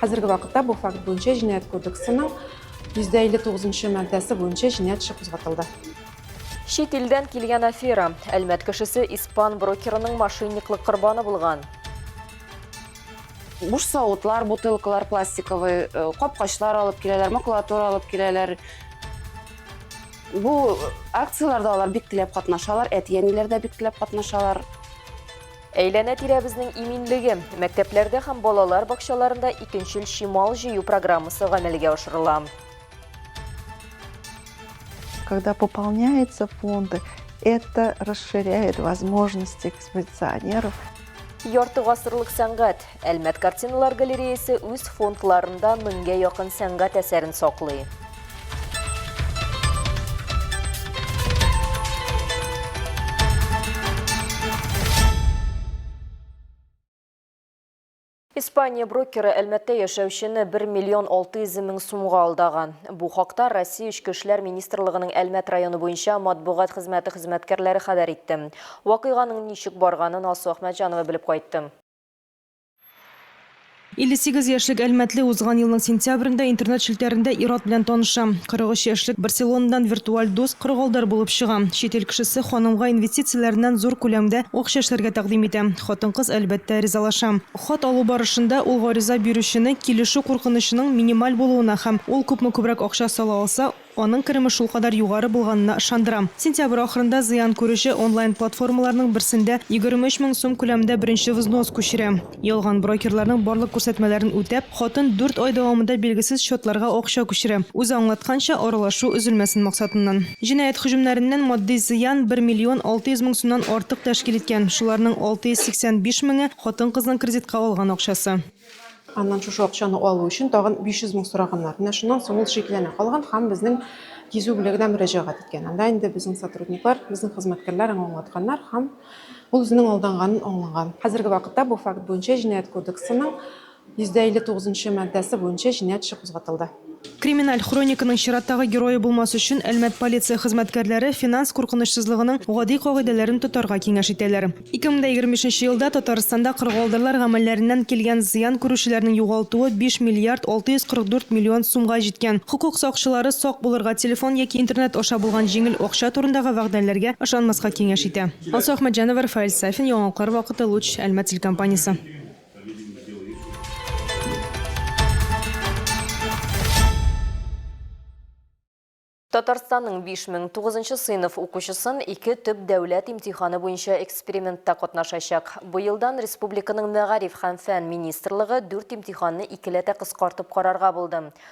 Хәзерге вакытта бу факт буенча Җинаять кодексының 159 нчы маддәсе буенча җинаять эше кузгатылды. Чит илдән килгән афера. Әлмәт кешесе испан брокерының мошенниклык корбаны булган. Буш савытлар, бутылкалар пластиковый, э, капкачлар алып киләләр, макулатура алып киләләр. Бу акцияләрдә алар бик теләп катнашалар, әти-әниләр дә бик теләп катнашалар. Әйләнә-тирәбезнең иминлеге. Мәктәпләрдә һәм балалар бакчаларында икенчел чимал җыю программасы гамәлгә ашырыла. Когда пополняются фонды, это расширяет возможности экспозиционеров. Ярты гасырлык сәнгать. Әлмәт картиналар галереясе үз фондларында меңгә якын сәнгать әсәрен саклый. Испания брокеры Әлмәттә яшәүчене 1 миллион 600 мең сумга алдаган. Бу хакта Россия эчке эшләр министрлыгының Әлмәт районы буенча матбугат хезмәте хезмәткәрләре хәбәр итте. Вакыйганың ничек барганын Алсу Әхмәтҗанова белеп кайтты. 58 яшьлек әлмәтле узган елның сентябрендә интернет челтәрендә ир-ат белән таныша. 43 яшьлек Барселонадан виртуаль дус, кыргалдар булып чыга. Чит ил кешесе ханымга инвестицияләреннән зур күләмдә акча эшләргә тәкъдим итә. Хатын-кыз, әлбәттә, ризалаша. Хат алу барышында ул гариза бирүчене килешү куркынычының минималь булуына һәм ул күпме күбрәк акча сала алса, Аның кереме шулкадәр югары булганына ышандырам. Сентябрь ахырында зыян күрүче онлайн-платформаларның берсендә егерме өч мең сум күләмендә беренче взнос күчерә. Ялган брокерларның барлык күрсәтмәләрен үтәп, хатын дүрт ай дәвамында билгесез счетларга акча күчерә, үзе аңлатканча, аралашу өзелмәсен максатыннан. Җинаять һөҗүмнәреннән матди зыян бер миллион алты йөз мең сумнан артык тәшкил иткән, шуларның алты йөз сиксән биш меңе, хатын-кызның кредитка алган акчасы. Аннан шушы акчаны алу өчен тагын 500 мең сораганнар. Менә шуннан соң ул шикләнә калган һәм безнең кизү бүлегенә мөрәҗәгать иткән. Анда инде безнең сотрудниклар, безнең хезмәткәрләр аңа аңлатканнар һәм ул үзенең алданганын аңлаган. Хәзерге вакытта бу факт буенча Җинаять кодексының 159 нчы маддәсе буенча җинаять эше кузгатылды. Криминаль хрониканың чираттагы герое булмас өчен Әлмәт полиция хезмәткәрләре финанс куркынычсызлыгының гади кагыйдәләрен тотарга киңәш итәләр. 2025 елда Татарстанда кыргалдырлар гамәлләреннән килгән зыян күрүчеләрнең югалтуы 5 миллиард 644 миллион сумга җиткән. Хокук сакчылары сак булырга, телефон яки интернет аша булган җиңел акча турындагы вәгъдәләргә ышанмаска киңәш итә. Алсу Әхмәтҗанова, Рафаэль Сафин, Яңалыклар вакыты, Луч, Әлмәт телекомпаниясе. Татарстанның 5900 сыйныф укучысын ике төп дәүләт имтиханы буенча экспериментта катнашачак. Бу елдан республиканың мәгариф һәм фән министрлыгы дүрт имтиханны икеләтә кыскартып карарга булды.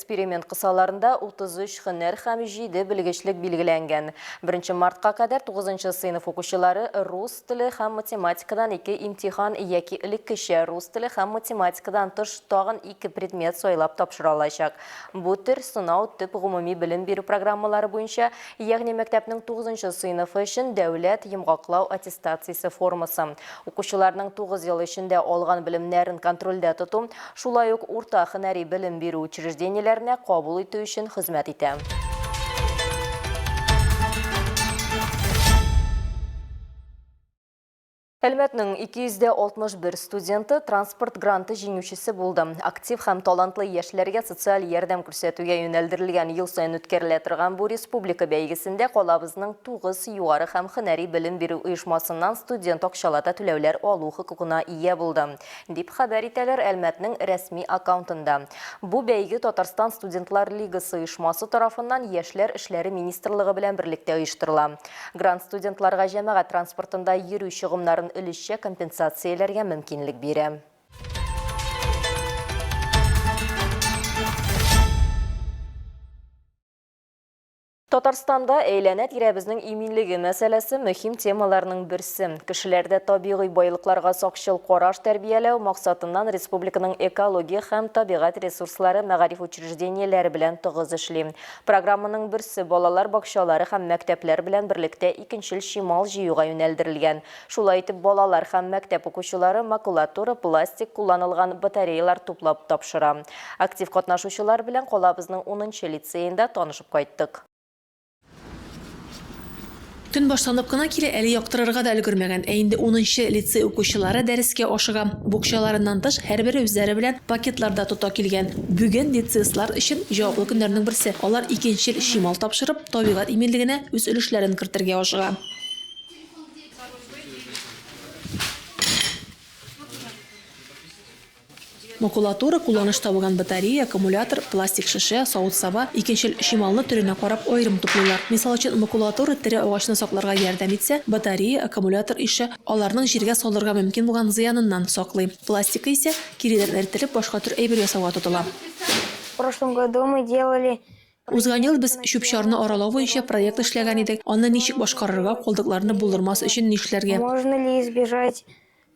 Эксперимент кысаларында 33 һөнәр һәм 7 белгечлек билгеләнгән. Беренче мартка кадәр тугызынчы сыйныф укучылары рус теле һәм математикадан ике имтихан яки элеккечә рус теле һәм математикадан тыш тагын ике предмет сайлап тапшыра алачак. Бу төр сынау төп гомуми белем бирү программалары буенча Ягъни мәктәпнең тугызынчы сыйныфы өчен дәүләт йомгаклау аттестациясе формасы, укучыларның тугыз ел эчендә алган белемнәрен контрольдә тоту, шулай ук урта һөнәри белем бирү учреждениеләренә кабул итү өчен хезмәт итә. Әлмәтнең 261 студенты транспорт гранты җиңүчесе булды. Актив һәм талантлы яшьләргә социаль ярдәм күрсәтүгә юнәлдерелгән ел саен үткәрелә торган бу республика бәйгесендә калабызның тугыз югары һәм һөнәри белем бирү оешмасыннан студент акчалата түләүләр алу хокукына ия булды, дип хәбәр итәләр Әлмәтнең рәсми аккаунтында. Бу бәйге Татарстан студентлар лигасы оешмасы тарафыннан Яшьләр эшләре министрлыгы белән берлектә оештырыла. Грант студентларга җәмәгать транспортында йөрү чыгымнарын өлешчә компенсацияләргә мөмкинлек бирә. Татарстанда әйләнә-тирәбезнең иминлеге мәсьәләсе мөһим темаларның берсе. Кешеләрдә табигый байлыкларга сакчыл караш тәрбияләү максатыннан республиканың экология һәм табигать ресурслары мәгариф учреждениеләре белән тыгыз эшли. Программаның берсе балалар бакчалары һәм мәктәпләр белән берлектә икенчел чимал җыюга юнәлдерелгән. Шулай итеп, балалар һәм мәктәп укучылары макулатура, пластик, кулланылган батареялар туплап тапшыра. Актив катнашучылар белән калабызның унынчы лицеенда танышып кайттык. Төн башланып кына килә, әле яктырырга да өлгермәгән, ә инде унынчы лицей укучылары дәрескә ашыга. Букчаларыннан тыш, һәрбере үзләре белән пакетлар да тота килгән. Бүген лицеистлар өчен җаваплы көннәрнең берсе, алар икенчел чимал тапшырып, табигать иминлегенә үз өлешләрен кертергә ашыга. Макулатура, кулланыш табыган батарея, аккумулятор, пластик шешә, савыт-саба, икенчел чималны төренә карап аерым туплыйлар. Мисал өчен, макулатура тере агачны сакларга ярдәм итсә, батарея, аккумулятор ише аларның җиргә салырга мөмкин булган зыяныннан саклый. Пластикы исә, киреләр эртелеп, башка төр әйбер ясауга тотыла. В прошлом году мы делали проект Узган ел без чүп-чарны аралау буенча проект эшләгән идек, аны ничек башкарырга, калдыкларны булдырмас өчен нишләргә. Можно ли избежать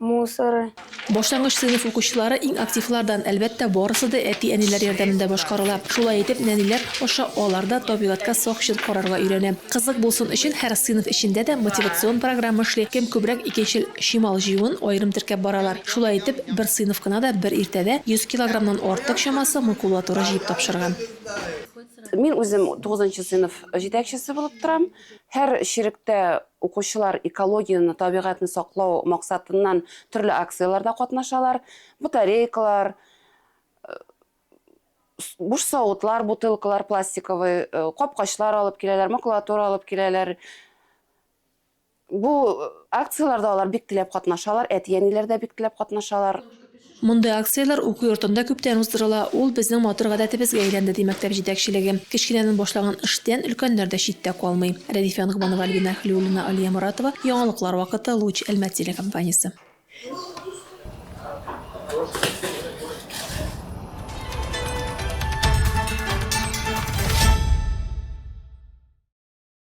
мусоры. Башлангыч сыйныф укучылары иң активлардан, әлбәттә, барысы да әти-әниләр ярдәмендә башкарыла. Шулай итеп, нәниләр аша алар да табигатькә сак чир карарга өйрәнә. Кызык булсын өчен, һәр сыйныф эчендә дә мотивацион программа эшли, кем күбрәк икенчел чимал җыюын аерым теркәп баралар. Шулай итеп, бер сыйныф кына да бер иртәдә 100 килограммнан артык чамасы макулатура җыеп тапшырган. Мин үзем тугызынчы сыйныф җитәкчесе булып торам. Һәр черектә Укучылар экологияне, табигатьне саклау максатыннан төрле акцияләрдә катнашалар. Батарейкалар, буш савытлар, бутылкалар, пластиковый капкачлар алып киләләр, макулатура алып киләләр. Бу акцияләрдә алар бик теләп катнашалар, әти-әниләр дә бик теләп катнашалар. Мондый акцияләр уку йортында күптән уздырыла, ул безнең матур гадәтебезгә әйләнде, ди мәктәп җитәкчелеге. Кечкенәдән башлаган эштән өлкәннәр дә читтә калмый. Рәдифә Ногманова, Альбина Хәлиуллина, Алия Моратова, Яңалыклар вакыты, Луч, Әлмәт телекомпаниясе.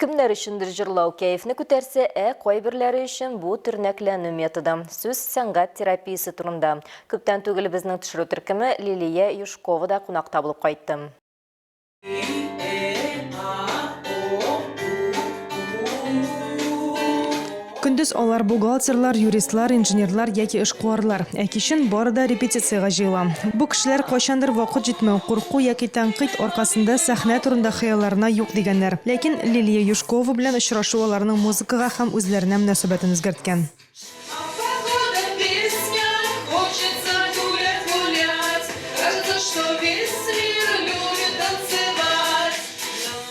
Кемнәр өчендер җырлау кәефне күтәрсә, ә кайберләре өчен бу төрнәкләнү методы. Сүз сәнгать терапиясе турында. Күптән түгел безнең төшерү төркеме Лилия Юшкова да кунакта булып кайтты. Көндез алар бухгалтерлар, юристлар, инженерлар яки эшкуарлар, ә кичен бары да репетициягә җыела. Бу кешеләр кайчандыр вакыт җитмәү, курку яки тәнкыйть аркасында сәхнә турында хыялларына юк дигәннәр. Ләкин Лилия Юшкова белән очрашу аларның музыкага һәм үзләренә мөнәсәбәтен үзгәрткән.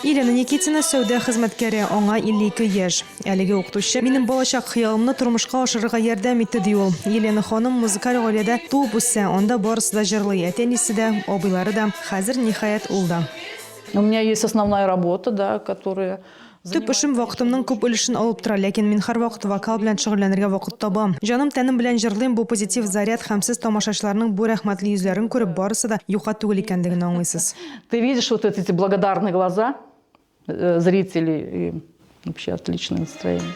Елена Никитина, сәүдә хезмәткәре, аңа 52 яшь. Әлеге укытучы минем балачак хыялымны тормышка ашырырга ярдәм итте, ди ул. Елена ханым музыкаль гаиләдә туып үсә, анда барысы да җырлый, әти-әнисе дә, абыйлары да, хәзер, ниһаять, ул да. У меня есть основная работа, да, которая. Төп эшем вакытымның күп өлешен алып тора, ләкин мин һәрвакыт вокал белән шөгыльләнергә вакыт табам. Җаным-тәнем белән җырлыйм, бу позитив заряд һәм сез тамашачыларның бу рәхмәтле йөзләрен күреп, барысы да юкка түгел икәнлеген аңлыйсыз. Ты видишь вот эти благодарные глаза, Э, зрители и вообще отличное настроение.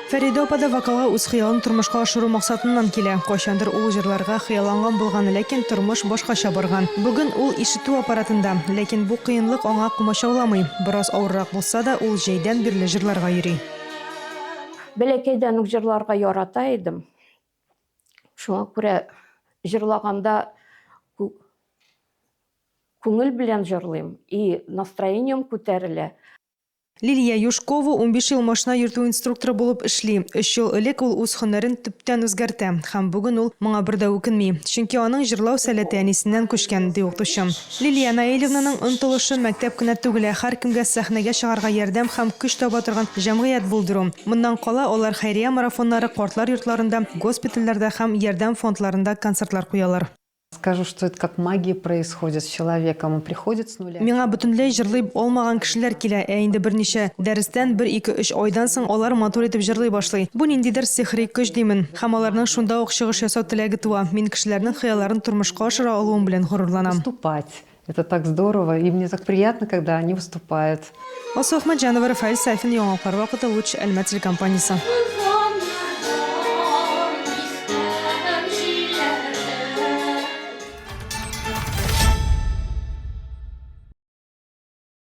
Фәридә апа да вокалга үз хыялын тормышка ашыру максатыннан килә. Кайчандыр ул җырларга хыялланган булган, ләкин тормыш башкача барган. Бүген ул ишетү аппаратында, ләкин бу кыенлык аңа комачауламый. Бераз авыррак булса да, ул җәйдән бирле җырларга йөри. Бәләкәйдән үк җырларга ярата идем. Шуңа күрә җырлаганда күңел белән җырлыйм и настроением күтәрелә. Лилия Юшкова унбиш ел машина йөртү инструкторы булып эшли. Өч ел элек ул үз һөнәрен төптән үзгәртә. Һәм бүген ул моңа бер дә үкенми. Чөнки аның җырлау сәләте әнисеннән күчкән, ди укытучы. Лилия Наилевнаның омтылышы мәктәп кенә түгел, ә һәркемгә сәхнәгә чыгарга ярдәм һәм көч таба торган җәмгыять булдыру. Моннан кала, алар хәйрия марафоннары, картлар йортларында, госпитальләрдә һәм ярдәм фондларында концертлар куялар. Скажу, что это как магия происходит с человеком, он приходит с нуля. Миңа бөтенләй җырлый алмаган кешеләр килә, ә инде берничә дәрестән, бер-ике-өч айдан соң алар матур итеп җырлый башлый. Бу ниндидер сихри көч димен. Һәм аларның шунда ук чыгыш ясау теләге туа. Мин кешеләрнең хыялларын тормышка ашыра алуым белән горурланам. Выступать. Это так здорово. И мне так приятно, когда они выступают. Алсу Ахматҗанова, Рафаэль Сафин, Яңалыклар вакыты, Луч, Әлмәт телекомпаниясе.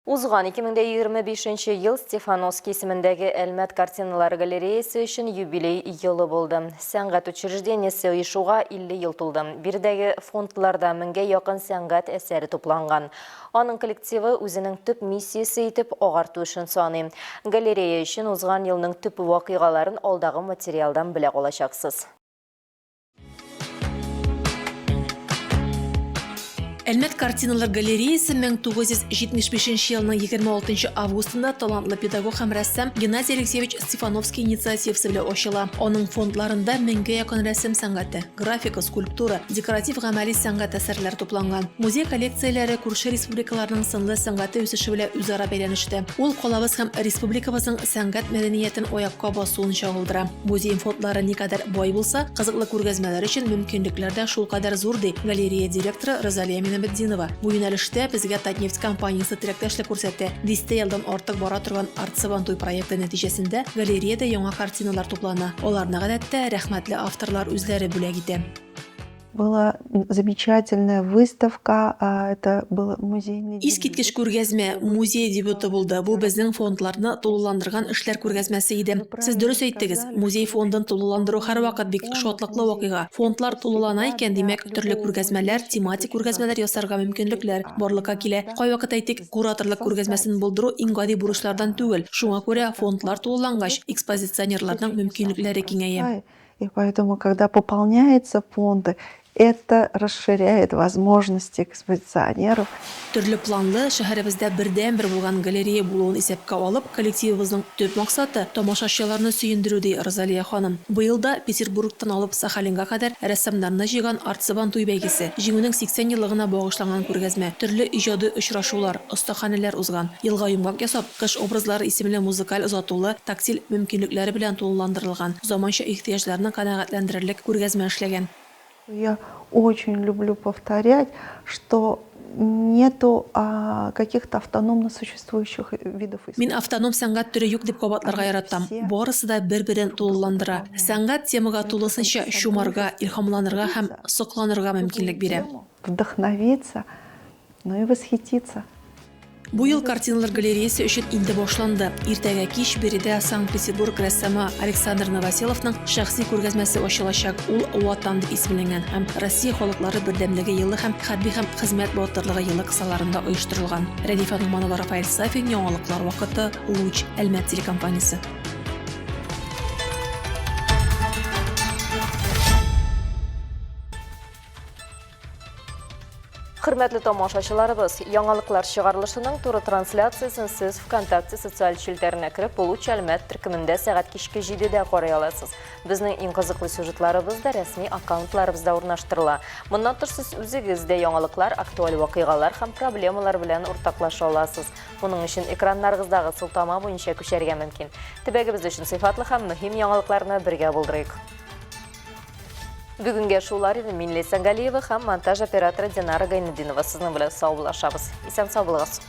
Узган 2025 нче ел Стефановский исемендәге Әлмәт картиналар галереясе өчен юбилей елы булды. Сәнгать учреждениесе оешуга 50 ел тулды. Биредәге фондларда меңгә якын сәнгать әсәре тупланган. Аның коллективы үзенең төп миссиясе итеп агарту эшен саный. Галерея өчен узган елның төп вакыйгаларын алдагы материалдан белә алачаксыз. Әлмәт картиналар галереясы 1975 елның 26 августында талантлы педагог һәм рәссам Геннадий Алексеевич Стефановский инициативасы белән ачыла. Аның фондларында меңгә якын рәсем сәнгате, графика, скульптура, декоратив гамәли сәнгать әсәрләре тупланган. Музей коллекцияләре күрше республикаларның сынлы сәнгате үсеше белән үзара бәйләнештә. Ул калабыз һәм республикабызның сәнгать мәдәниятен аякка басуын чагылдыра. Музей фондлары никадәр бай булса, кызыклы күргәзмәләр өчен мөмкинлекләр дә шулкадәр зур, ди галерея директоры Розалия Минабетдинова. Бу юнәлештә безгә Татнефть компаниясе теләктәшлек күрсәтә. Дистә елдан артык бара торган Арт-Сабантуй проекты нәтиҗәсендә галереядә яңа картиналар туплана. Аларны, гадәттә, рәхмәтле авторлар үзләре бүләк итә. Была замечательная выставка, это был музейный... Искиткеч күргәзмә, музей дебюты булды. Бу безнең фондларны тулыландырган эшләр күргәзмәсе иде. Сез дөрес әйттегез, музей фондын тулыландыру һәрвакыт бик шатлыклы вакыйга. Фондлар тулылана икән, димәк, төрле күргәзмәләр, тематик күргәзмәләр ясарга мөмкинлекләр барлыкка килә. Кайвакыт әйтик, кураторлык күргәзмәсен булдыру иң гади бурычлардан түгел. Шуңа күрә фондлар тулылангач, экспозиционерларның мөмкинлекләре киңәя. И поэтому, когда пополняется фонды, это расширяет возможности экспозиционеров. Төрле планлы, шәһәребездә бердәнбер булган галерея булуын исәпкә алып, коллективыбызның төп максаты, тамашачыларны сөендерү, ди Розалия ханым. Быел да Петербургтан алып Сахалинга кадәр рәссамнарны җыйган Арт-Сабан туй бәйгесе, Җиңүнең 80 еллыгына багышланган күргәзмә, төрле иҗади очрашулар, остаханәләр узган. Елга йомгак ясап, Кыш образлары исемле музыкаль озатулы, тактиль мөмкинлекләре белән тулыландырылган, заманча ихтыяҗларны канәгатьләндерерлек күргәзмә эшләгән. Я очень люблю повторять, что нету каких-то автономно существующих видов искусства. Мин автоном сәнгать төре юк дип кабатларга яратам. Барысы да бер-берен тулыландыра. Сәнгать темага тулысынча чумарга, илһамланырга һәм сокланырга мөмкинлек бирә. Вдохновиться Ну и восхититься. Бу ел картиналар галереясы өчен инде башланды. Иртәгә кич биредә Санкт-Петербург рәссамы Александр Новоселовның шәхси күргәзмәсе ачылачак. Ул Ватан дип исемләнгән һәм Россия халыклары бердәмлеге елы һәм хәрби һәм хезмәт батырлыгы елы кысаларында оештырылган. Рәдифә Ногманова, Рафаэль Сафин, яңалыклар вакыты, Луч, Әлмәт телекомпаниясе. Хөрмәтле тамашачыларыбыз, яңалыклар чыгарылышының туры трансляциясен сез ВКонтакте социаль челтәренә кереп, Получ Әлмәт төркемендә сәгать кичке 7-дә карый аласыз. Безнең иң кызыклы сюжетларыбыз да рәсми аккаунтларыбызда урнаштырыла. Моннан тыш сез үзегез дә яңалыклар, актуаль вакыйгалар һәм проблемалар белән уртаклаша аласыз. Моның өчен экраннарыгыздагы сылтама буенча күчәргә мөмкин. Төбәгебез өчен сыйфатлы һәм мөһим яңалыкларны бергә булдырыйк. Бүгенге шулар иде Минле Сәнгалиева һәм монтаж операторы Динара Гайнединова сезнең белән саубуллашабыз. Исән сау булыгыз.